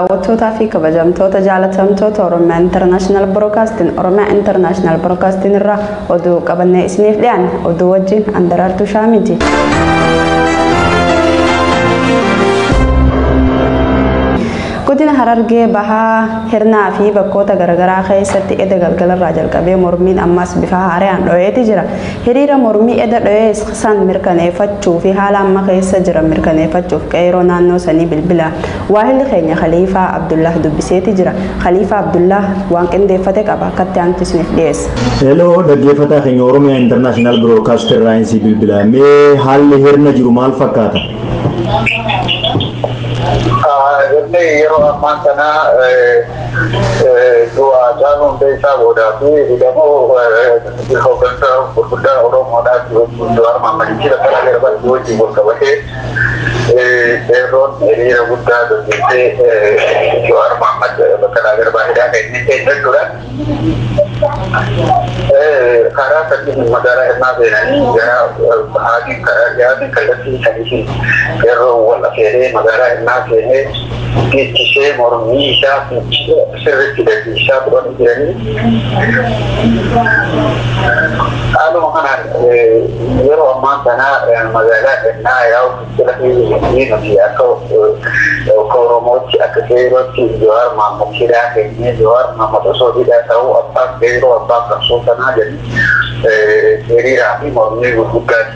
Daawwattootaa fi kabajamtoota jaalatamtoota Oromiyaa International Broadcasting Oromiyaa International Broadcasting irraa oduu qabannee isiniif dhiyaanne oduu wajjin Andaraartuu Shaamiti. Godina Harargee bahaa hirnaa fi bakkoota garaagaraa keessatti eda galgalarraa jalqabee mormiin ammas bifa haaraan dho'eeti jira. Hiriira mormii eda dho'ee san mirkaneeffachuu fi haala amma keessa jiran mirkaneeffachuuf qeeroo naannoo sanii bilbila Waahilli keenya Khaliifaa Abdullaah dubbiseeti jira. Khaliifaa Abdullaah waan qindeeffate qaba akkatti aanutti isiniif dhiyeessa. Hello dhaggeeffataa keenya Oromiyaa International Broadcast irraa insii bilbilaa. Mee haalli hirna jiru maal fakkaata? Hirni yeroo ammaa kana du'a Haacaaluu Hundeessaa boodaa fi hidhamuu hooggantoota gurguddaa Oromoodhaa Jawaar Mohaammadii fi Baqqalaa Garbaa wajjin wal qabatee Qeerroon hiriira guddaa gaggeessee Jawaar Mahaammad Baqqalaa Garbaa hidhaa keessa keessa jechuudha. Karaa sadiin magaalaa Hirnaa seenanii gara bahaatiin karaa dhiyaatiin kallattii sadiitiin qeerroon wal afeeree magaalaa Hirnaa seenee geechisee mormii isaa fincila sirritti gaggeessaa turanii jiranii. Haaluma kanaan yeroo ammaan tanaa magaalaa Gannaa yaa'u fincila keessatti nuti akka akka Oromootti akka qeerrootti Jawaar Mahaammad hidhaa kennee Jawaar Mahaammad osoo hidhaa ta'uu abbaa qeerroo abbaa qabsoo sanaa jedhanii hiriiraa fi mormii gurguddaa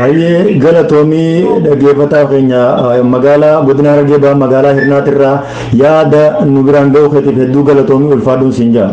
Hayyee galatoomii dhageeffataa keenya magaalaa godina Harargee Bahaa magaalaa Hirnaatirraa yaada nu biraan ga'uu keetiif hedduu galatoomii ulfaadhuun siin ja'a.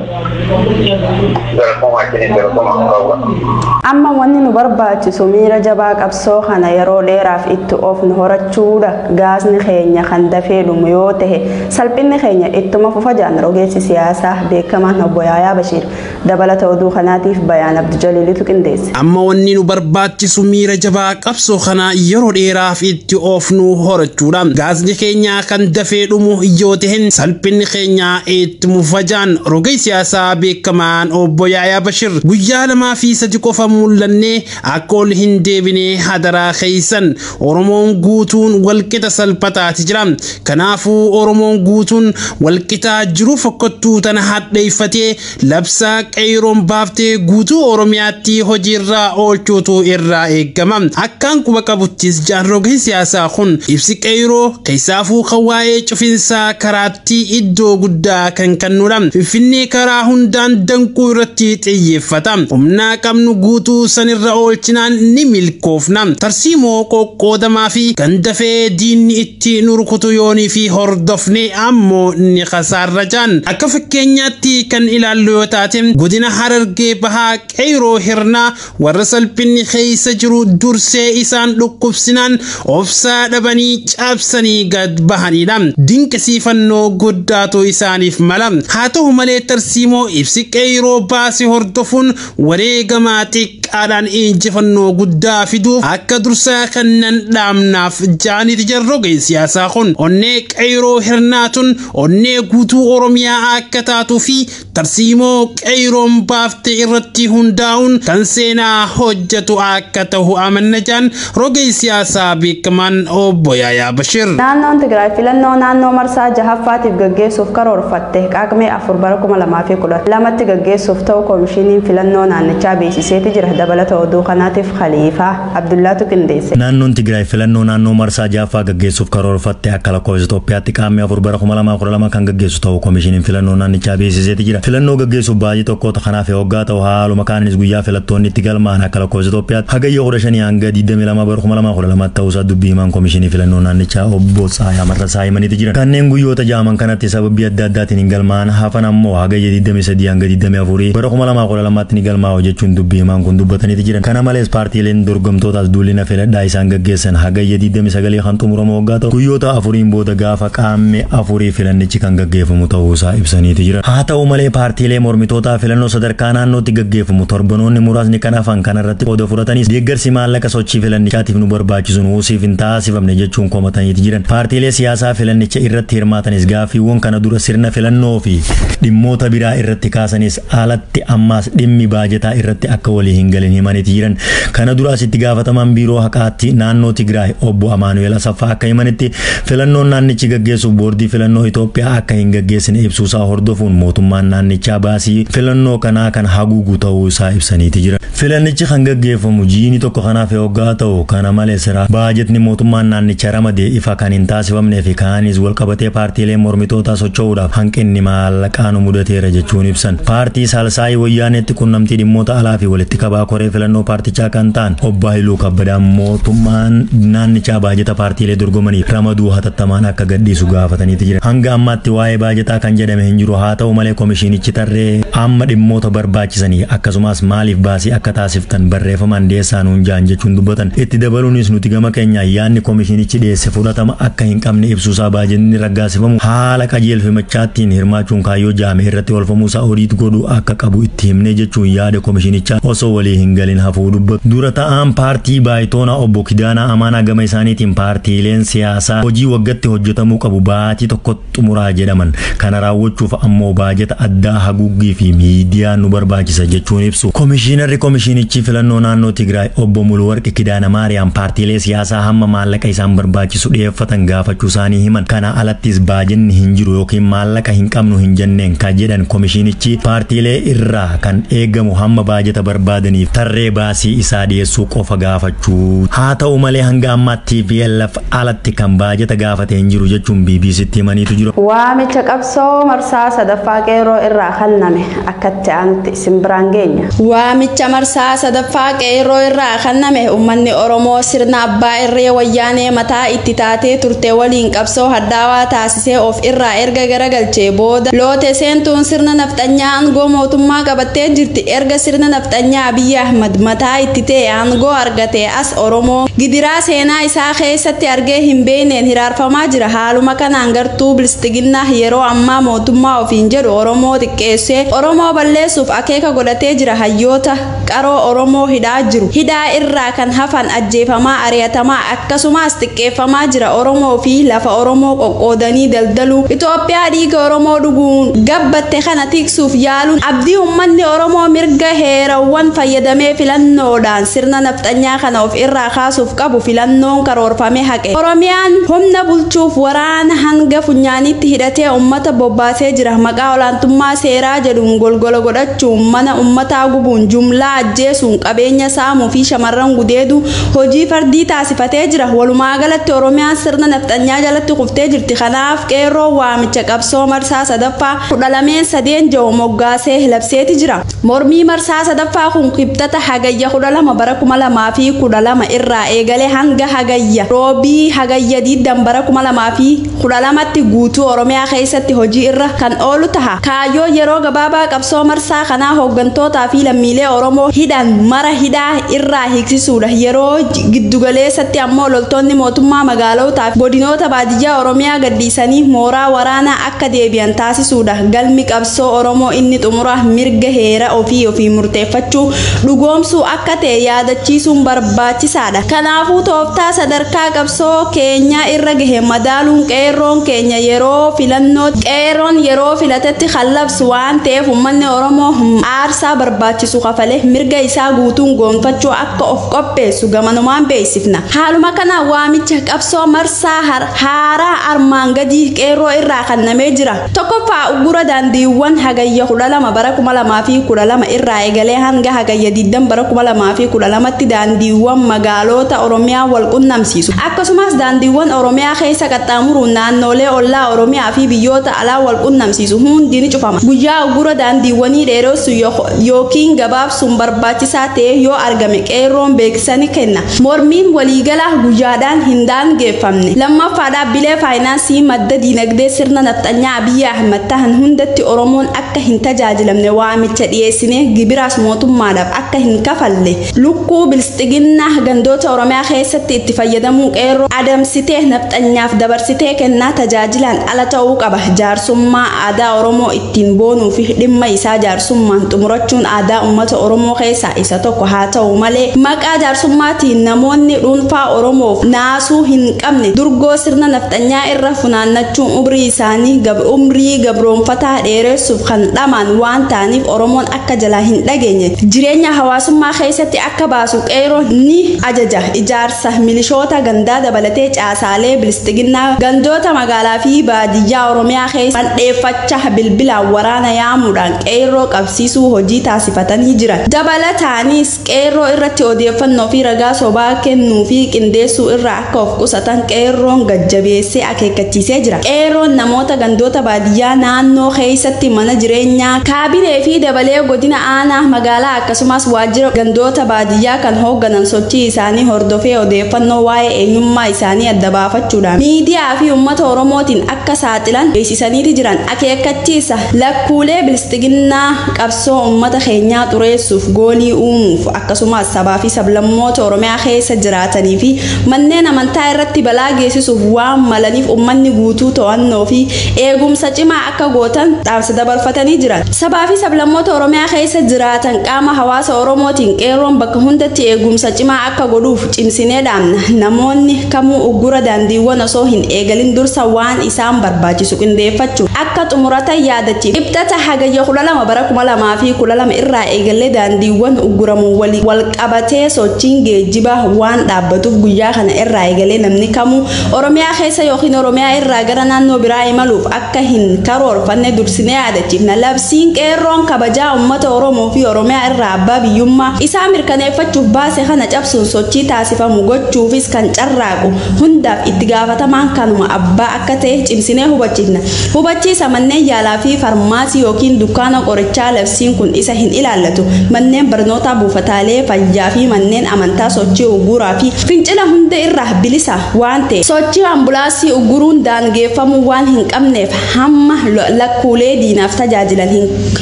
Amma wanni nu barbaachisu miira jabaa qabsoo kana yeroo dheeraaf itti oofnu horachuudha. Gaasni keenya kan dafee dhumu yoo ta'e salphinni keenya ittuma fufa jedhan rogeessi siyaasaa beekamaan obbo Yaayaa Bashiir. Dabalata oduu kanaatiif Bayaan Abdujaliilitu qindeesse. Amma wanni nu barbaachisu miira jabaa qabsoo kana yeroo dheeraaf itti oofnu horachuudha. Gaasni keenya kan dafee dhumu yoo tahen salphinni keenya itti mufa jaan rogeey siyaasaa beekamaan Obbo Yaayaa Bashir. Guyyaa lamaa fi sadi qofa mul'annee akka ol hin deebine hadaraa keeysan. Oromoon guutuun walqixa salphataati jira. Kanaafuu Oromoon guutuun walqixaa jiruu fokkottuu tana hadheeffatee labsaa qeeyroon baaftee guutuu Oromiyaatti hojiirraa oolchuutu irraa eegama. Akkaan quba qabuttis jaarrogni siyaasaa kun ibsi qeeyroo keessaafuu kan waa'ee cufinsaa karaa irratti iddoo guddaa kan kennudha. Finfinnee karaa hundaan danquu irratti xiyyeeffata. Humna qabnu guutuu sanirra oolchinaan ni milkoofna. Tarsiimoo qoqqoodamaa fi kan dafee diinni itti nu rukutu yoonii fi hordofne ammoo ni kasaarra jaan. Akka fakkeenyaatti kan ilaallu yoo taate godina Harargee Bahaa Qeyroo Hirnaa Warra salphinni keessa jiru dursee isaan dhukkubsinaan obsaa dhabanii caabsanii gad bahanidha. Dinqisiifannoo guddaatu isaaniif mala. Haa ta'u malee tarsiimoo ibsi qeeyroo baase hordofuun wareegama xiqqaadhaan injifannoo guddaa fiduuf akka dursaa kennan dhaamnaaf jaaniti jarrogeen siyaasaa kun onnee qeeyroo hirnaatun onnee guutuu Oromiyaa akka taatuu fi tarsiimoo qeeyroon baafte irratti hundaa'uun kan seenaa hojjetu akka ta'u amanna jedhan rogeessi siyaasaa beekamaan obbo Yaayaa Bashir. Naannoon Tigraay filannoo naannoo marsaa jahaffaatiif gaggeessuuf karoorfatte Qaaqmee 4 bara 2012tti gaggeessuuf ta'u Koomishiniin Filannoo naannichaa beeksiseeti jira. Dabalata oduu kanaatiif Khaliifaa. Abdullaatu qindeesse. Naannoon Tigraay filannoo naannoo marsaa 6ffaa gaggeessuuf karoorfatte akka lakkoofsa Itoophiyaatti Qaammee 4 bara 2012 kan gaggeessu ta'uu Komishiniin Filannoo naannichaa beeksiseeti jira. Filannoo gaggeessuuf baatii tokkootu kan hafe hoggaa ta'u haaluma kaaniinis guyyaa filattoonni itti galmaa'an akka lakkoofsa Itoophiyaatti Hagayya 15 hanga 22 bara 2012 ta'uusaa dubbii himaan Komishinii Filannoo naannichaa obbo Tsaayaa Marrasaa himaniiti jiran. Kanneen guyyoota ja'aman kanatti sababbii adda addaatiin hin galmaa'an hafan ammoo Hagayya 23 hanga 24 bara 2012 lamaatti ni galmaa'u jechuun dubbi himaan kun dubbataniiti jiran. Kana malees paartiileen dorgomtootaas duullina filadhaa isaan gaggeessan Hagayya 29 kan xumuramu waggaa ta'u guyyoota afuriin booda gaafa Qaammee afurii filannichi kan gaggeeffamu ta'uusaa ibsaniiti jiran. Haa ta'u malee paartiilee mormitootaa filannoo sadarkaa naannootti gaggeeffamu torbanoonni muraasni kan hafan kanarratti qooda fudhatanis deeggarsi maallaqa sochii filannichaatiif nu barbaachisu nuu siif hin taasifamne jechuun komataniiti jiran. Paartiilee siyaasaa filannicha irratti hirmaatanis gaaffiiwwan kana dura sirna filannoo fi dhimmoota biraa irratti kaasanis alatti ammaas dhimmi baajataa irratti akka walii hin galin himaniiti jiran. Kana duraas itti gaafatamaan biiroo haqaatti naannoo Tigraay obbo Amaanu'eel Asaffaa akka himanitti filannoon naannichi gaggeessuuf boordii filannoo Itoophiyaa akka hin gaggeessine ibsuusaa hordofuun mootummaan naannichaa baasii filannoo kanaa kan haguugu ta'uu isaa ibsaniiti jiran. Filannichi kan gaggeeffamu jiini tokko kan hafe oggaa ta'u, kana malees baajatni mootummaan naannicha ramade ifa kan hin taasifamneefi kaaniis walqabatee paartiileen mormitootaa socho'uudhaaf hanqinni maallaqaa nu mudateera jechuun ibsan. Paartii Saalsaayii Wayyaaneetti qunnamtii dhimmoota alaafi walitti qabaa koree filannoo paartichaa kan ta'an Obbo Hayiluu Kabbadaan mootummaan naannichaa baajata paartiilee dorgomaniif ramaduu hatattamaan akka gadhiisu gaafataniiti jiran. Hanga ammaatti waa'ee baajataa kan jedhame hin jiru. Haata'u malee komishiinichi tarree amma dhimmoota barbaachisaa barbaachisanii akkasumaas maaliif baasii akka taasiftan barreefamaan dhiyeessaa nuun ja'an jechuun dubbatan. Itti dabaluunis nuti gama keenyaan yaadni komishinichi dhiyeesse fudhatama akka hin qabne ibsuusaa baajetni raggaasifamu haala qajeelfamichaattiin hirmaachuun kaayyoo ja'ame irratti oolfamuusaa odiit godhuu akka qabu itti himnee jechuun yaada komishinichaa osoo walii hin galin hafuu dubbatu. Dura ta'aan paartii baayitoonaa obbo Kidaanaa Amaanaa gama isaaniitiin paartiileen siyaasaa hojii waggatti hojjetamuu qabu baatii tokkotti xumuraa jedhaman. Kana raawwachuuf ammoo baajata addaa haguuggii fi miidiyaa nu barbaachisa jechuun ibsu. Komishiinarri Komishiinichii Filannoo Naannoo Tigraay Obbo Muluwarq Kidaana Maariyaam paartiilee siyaasaa hamma maallaqa isaan barbaachisu dhiyeeffatan gaafachuu isaanii himan. Kanaa alattis baajenni hin jiru ykn maallaqa hin qabnu hin jenneen ka jedhan komishiinichi paartiilee irraa kan eegamu hamma baajata barbaadaniif tarree baasii isaa dhiyeessuu qofa gaafachuu. Haa ta'u malee hanga ammaatti tplf alatti kan baajata gaafate hin jiru jechuun BBCtti himaniitu jiru. Waamicha qabsoo marsaa sadaffaa qeerroo irraa kenname akkatti aanutti isin biraan geenya. Waamicha marsaa sadaffaa qeerroo irraa kenname uummanni Oromoo sirna abbaa irree wayyaanee mataa itti taatee turte waliin qabsoo hadhaawaa taasisee of irraa erga garagalchee booda loote seentuun sirna nafxanyaa aangoo mootummaa qabattee jirti. Erga sirna nafxanyaa Abiyyi Ahmad mataa itti ta'e aangoo argate as Oromoo gidiraa seenaa isaa keessatti argee hin beekneen hiraarfamaa jira. Haaluma kanaan gartuu Biltsiginnaa yeroo ammaa mootummaa ofiin jedhu Oromoo xiqqeessee Oromoo balleessuuf akeeka godhatee jira. Hayyoota qaroo Oromoo hidhaa jiru. Hidhaa irraa kan hafan ajjeefamaa, ari'atamaa akkasumaas xiqqeeffamaa jira. Oromoo fi lafa Oromoo qoqqoodanii daldaluu, Itoophiyaa dhiiga Oromoo dhuguun gabbatte kana tiksuuf yaaluun abdii uummanni Oromoo mirga heerawwan fayyadamee filannoodhaan Sirna nafxanyaa kana of irraa kaasuuf qabu filannoon karoorfame haqe. Oromiyaan humna bulchuuf waraana hanga funyaaniitti hidhatee ummata bobbaasee jira. Maqaa olaantummaa seeraa jedhuun golgola godhachuun, mana ummataa gubuun, jumlaa ajjeesuun, qabeenya saamuu fi shamarran gudeeduu hojii fardii taasifatee jira. Walumaa galatti Oromiyaan sirna nafxanyaa jalatti kuftee jirti. Kanaaf Qeerroon waamicha qabsoo marsaa 3ffaa kudha lameen sadeen ja'u moggaasee labseeti jira. Mormii marsaa 3ffaa kun Kibxata Hagayya 12 bara 2012 irraa eegalee hanga Hagayya, Roobii, Hagayya 20 bara 2012tti guutuu Oromiyaa keessatti hojii irra kan oolu taha. Kaayyoon yeroo gabaabaa qabsoo marsaa kanaa hooggantootaa fi lammiilee Oromoo hidhan mara hidhaa irraa hiiksisuudha. Yeroo giddu galeessatti ammoo loltoonni mootummaa magaalootaa fi godinoota baadiyyaa Oromiyaa gadhiisanii mooraa waraanaa akka. akka deebi'an taasisuudha. Galmi qabsoo Oromoo inni xumuraa mirga heera ofii ofiin murteeffachuu dhugoomsuu akka ta'e yaadachiisuun barbaachisaadha. Kanaafuu tooftaa sadarkaa qabsoo keenyaa irra gahe madaaluun qeerroon keenya yeroo filannoo qeerroon yeroo filatetti kan labsu waan ta'eef ummanni Oromoo aarsaa barbaachisu kafalee mirga isaa guutuun goonfachuu akka of qopheessu gamanumaan beeksifna. Haaluma kanaan waamicha qabsoo marsaa haaraa armaan gadii Qeerroo irraa kannamee jira. 1ffaa Uggura daandiiwwan Hagayya 12 bara 2012 irraa egalee hanga Hagayya 20 bara 2012tti daandiiwwan magaaloota Oromiyaa wal qunnamsiisu, akkasumas daandiiwwan Oromiyaa keessa qaxxaamuruun naannoolee ollaa Oromiyaa fi biyyoota alaa wal qunnamsiisu hundi ni cufama. Guyyaa uggura daandiiwwanii dheeressuun ykn gabaabsuun barbaachisaa ta'ee yoo argame Qeerroon beeksisa ni kenna. Mormiin waliigalaa guyyaadhaan hin daangeeffamne. Lammaffaa dhaabbilee faayinaansii madda diinagdee sirna nafxanyaa Abiy Ahimad tahan hundatti Oromoon akka hin tajaajilamne waamicha dhiyeessinee gibiraas mootummaadhaaf akka hin kafalle lukkuu bilsxiginnaah gandoota Oromiyaa keessatti itti fayyadamuu qeerroo adamsitee nafxanyaaf dabarsitee kennaa tajaajilaan ala ta'uu qaba jaarsummaa aadaa Oromoo ittiin boonuufi dhimma isaa jaarsummaan xumurachuun aadaa ummata Oromoo keessaa isa tokko haa ta'u malee, maqaa jaarsummaatiin namoonni dhuunfaa Oromoof naasuu hin qabne durgoo sirna nafxanyaa irra funaannachuun umrii isaanii umrii gabroomfataa dheeressuuf kan dhamaan waan ta'aniif Oromoon akka jalaa hin dhageenye jireenya hawaasummaa keessatti akka baasu Qeeyroon ni ajaja. Ijaarsa milishoota gandaa dabalatee caasaalee Bilsxiginnaa gandoota magaalaafi baadiyyaa Oromiyaa keessa mandheeffachaa bilbilaan waraana yaamuudhaan qeerroo qabsiisuu hojii taasifatanii jiran. Dabalataaniis qeerroo irratti odeeffannoo fi ragaa sobaa kennuu fi qindeessuu irraa akka of qusatan qeerroon gad jabeessee akeekkachiisee jira. Qeerroon namoota gandoota baadiyyaa naannoo keessatti mana jireenyaa, kaabinee fi dabalee godina aanaa, magaalaa akkasumas waajjira gandoota baadiyyaa kan hoogganan sochii isaanii hordofee odeeffannoo waa'ee eenyummaa isaanii adda baafachuudhaan miidiyaa fi uummata Oromootiin akka saaxilan beeksisaniiti jiran. Akeekkachiisa, Lakkuulee Biltsiginnaa qabsoo ummata keenyaa xureessuuf, goolii uumuuf, akkasumaas sabaa fi sablammoota Oromiyaa keessa jiraatanii fi manneen amantaa irratti balaa geessisuuf waan malaniif ummanni guutuu to'annoo fi eegumsa cimaa akka gootan dhaamsa dabarfatanii jiran. Sabaa fi sablammoota Oromiyaa keessa jiraatan qaama hawaasa Oromootiin Qeerroon bakka hundatti eegumsa cimaa akka godhuuf cimsinee dhaamna. Namoonni kamuu uggura daandiiwwan osoo hin eegalin dursa waan isaan barbaachisu qindeeffachuun akka xumuratan yaadachiifna. Kibxata Hagayya 12 bara 2012 irraa eegallee daandiiwwan ugguramuun waliin walqabatee sochiin geejjibaa waan dhaabbatuuf guyyaa kana irraa eegalee namni kamuu Oromiyaa keessa ykn Oromiyaa irraa gara naannoo biraa imaluuf akka akka hin karoorfanne dursinee yaadachiifna. Labsiin Qeerroon kabajaa uummata Oromoo fi Oromiyaa irraa abbaa biyyummaa isaa mirkaneeffachuuf baase kana cabsuun sochii taasifamu gochuufis kan carraaqu hundaaf itti gaafatamaan kanuma abbaa akka ta'e cimsinee hubachiifna. Hubachiisa, Manneen yaalaa fi farmaasii ykn dukkaana qorichaa labsiin kun isa hin ilaallatu. Manneen barnootaa, buufataalee fayyaa fi manneen amantaa sochii uggura fi fincila hunda irraa bilisa. waan ta'eef sochii ambulaansii ugguruun daangeeffamuu waan hin qabneef hamma lakkuulee diinaaf tajaajilan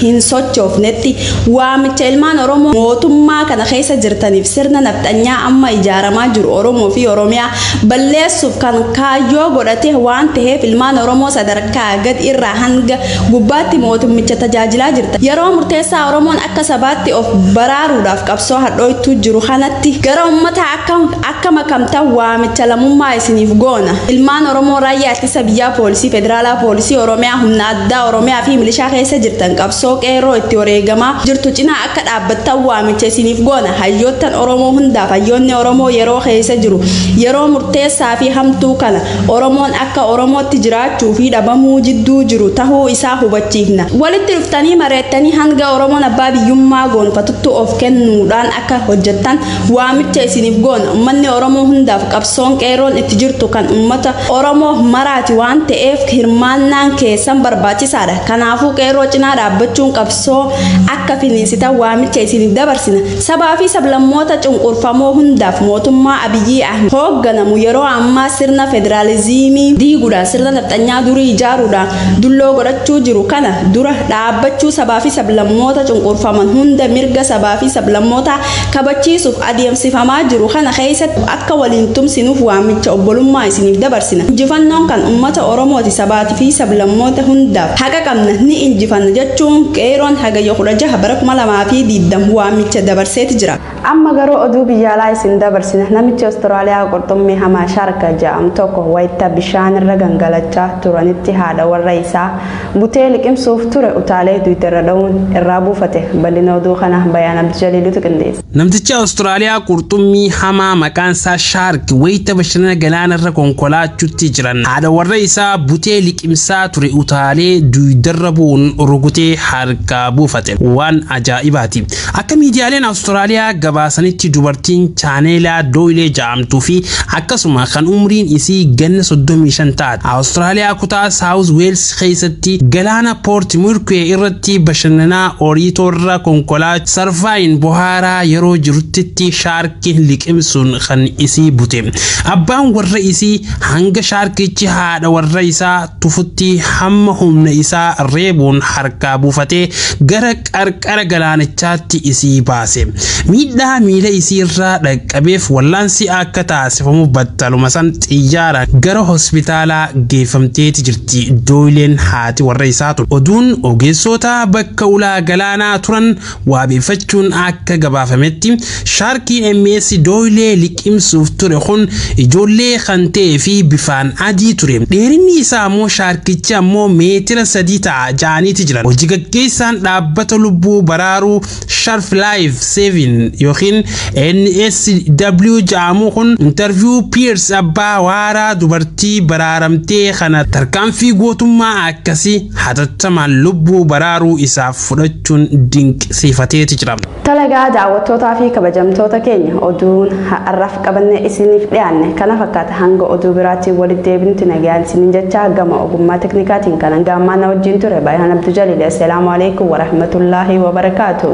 hin sochoofnetti waamicha ilmaan Oromoo mootummaa kana keessa jirtaniif sirna nafxanyaa amma ijaaramaa jiru Oromoo fi Oromiyaa balleessuuf kan kaayyoo godhate waan ta'eef ilmaan Oromoo sadarkaa gad irraa hanga gubbaatti mootummicha tajaajilaa jirtan yeroo murteessaa Oromoon akka sabaatti of baraaruudhaaf qabsoo hadhooytuu jiru kanatti gara ummataa akka Akka makamtan waamicha lamummaa isiniif goona. Ilmaan Oromoo Raayyaa Ittisa Biyyaa Poolisii Federaalaa Poolisii Oromiyaa Humna Addaa Oromiyaa fi Milishaa keessa jirtan qabsoo Qeerroo itti wareegamaa jirtu cinaa akka dhaabbattan waamicha isiniif goona. Hayyoottan Oromoo hundaaf Hayyoonni Oromoo yeroo keessa jiru yeroo murteessaa fi hamtuu kana Oromoon akka Oromootti jiraachuu fi dhabamuu jidduu jiru tahuu isaa hubachiifna. Walitti dhuftanii mareettanii hanga Oromoon abbaa biyyummaa goonfatuttu of kennuudhaan akka hojjettan Waamicha isiniif goona ummanni Oromoo hundaaf qabsoon Qeerroon itti jirtu kan ummata Oromoo maraati waan ta'eef hirmaannaan keessan barbaachisaadha. Kanaafuu Qeerroo cinaa dhaabbachuun qabsoo akka finiinsitan waamicha isiniif dabarsina. Sabaa fi sablammoota cunqurfamoo hundaaf mootummaa Abiyyii Ahmed hoogganamu yeroo ammaa sirna federaaliziimii diiguudhaan sirna nafxanyaa durii ijaaruudhaan dulloo godhachuu jiru kana dura dhaabbachuu sabaa fi sablammoota cunqurfaman hunda mirga sabaa fi sablammootaa kabachiisuuf adeemsifamaa jiru kana keessatti akka waliin tumsinuuf waamicha obbolummaa isiniif dabarsina. Injifannoon kan ummata Oromooti sabaati fi sablammoota hundaaf haqa qabna ni injifanna jechuun Qeeyroon Hagayya 16 bara 2020 waamicha dabarseeti jira. Amma garuu oduu biyya alaa isin dabarsina. Namichi Australia qurxummii hamaa shark ja'amu tokko wayta bishaanirra gangalachaa turanitti haadha warra isaa Butee liqimsuuf ture utaalee Twitterra dha'uun irraa buufate. Bal'ina oduu kana Bayaan Abdujaliilitu qindeesse. Namtichi Awustiraaliyaa qurxummii hamaa maqaan isaa Shaark wayita bashannana galaana irra konkolaachuutti jiran haadha warra isaa butee liqimsaa ture utaalee duydarra bu'uun rukutee harkaa buufate. Waan ajaa'ibaati. Akka miidiyaaleen Awustiraaliyaa gabaasanitti dubartiin Chaaneelaa Dooyilee ja'amtuu fi akkasuma kan umriin isii ganna 35 taate Awustiraaliyaa kutaa Saawuz Weels keessatti galaana Poort Murkuwee irratti bashannanaa Oriitoorra konkolaa sarfaayin bohaaraa yeroo jiruttitti shaarkiin liqimsuun kan isii bute. Abbaan warra isii hanga shaarkichi haadha warra isaa tufutti hamma humna isaa reebuun harkaa buufatee gara qarqara galaanichaatti isii baase. Miidhaa miila isii irraa dhaqqabeef wallaansi akka taasifamuuf battaluma san xiyyaaraan gara hospitaalaa geeffamteeti jirti. Dooyileen haati warra isaa ture. Oduun ogeessoota bakka ulaa galaanaa turan waabeeffachuun akka gabaafametti Shaarkii MS Dooyilee liqimsuuf ture kun ijoollee kan ta'ee fi bifaan adii ture. Dheerinni isaa ammoo shaarkichi ammoo meetira sadii ta'a ja'aniiti jiran. Hojii gaggeessaan dhaabbata lubbuu baraaruu Sharf Life Saving yookiin NSW ja'amuu kun interview Piers abbaa waaraa dubartii baraaramtee kana tarkaanfii gootummaa akkasii hatattamaan lubbuu baraaruu isaaf fudhachuun dinqisiifateeti jira. Talagaa daawwattootaa fi kabajamtoota keenya oduun har'aaf qabannee isiniif dhiyaanne kana fakkaata hanga oduu biraatiin walitti deebinutti nagaan isiniin jechaa gama ogummaa teknikaatiin kan hanga ammaa na wajjin ture Baayaan Abduu Jaliil assalaamu alaikum warahmatullaahi wabarakaatu.